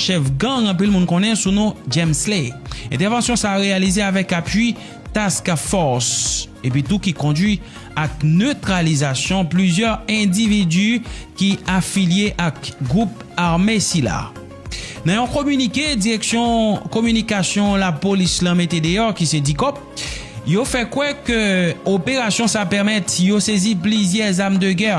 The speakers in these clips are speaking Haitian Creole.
chèf gang anpil moun konnen sou non Jemsley. Entèvansyon sa reyalize avèk apui Task Force epi tou ki kondui ak netralizasyon plizyè endividi ki afilye ak gwoup ame sila. Nan yon kominike direksyon kominikasyon lapolis lan mete deyò ki se Dicop, yo fè kwè ke operasyon sa pèmèt yo sezi plizyè zam de gè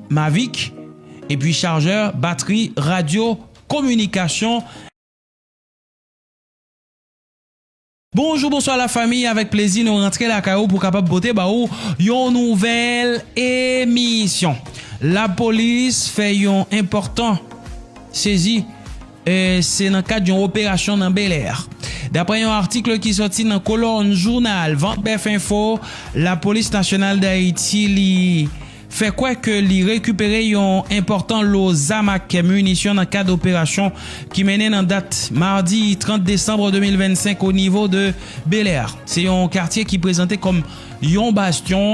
Mavic, epi charjè, batri, radyo, kominikasyon. Bonjou bonswa la famiy avèk plezi nou rantre lakay ou pou kapab pote ba ou yon nouvèl emisyon lapolis fè yon enpòtan sezi se nan kad yon operasyon nan belè daprè yon atikl ki soti nan kolòn jounal vantbèfinfo lapolis nasyonal dayiti li fè kwè ke li rekipere yon enpòtan lo zam ak minisyon nan kad operasyon ki mennen nan dat madi 30 desanm 2025 onivo de Belè. Se yon katye ki prezante kòm yon bastyon.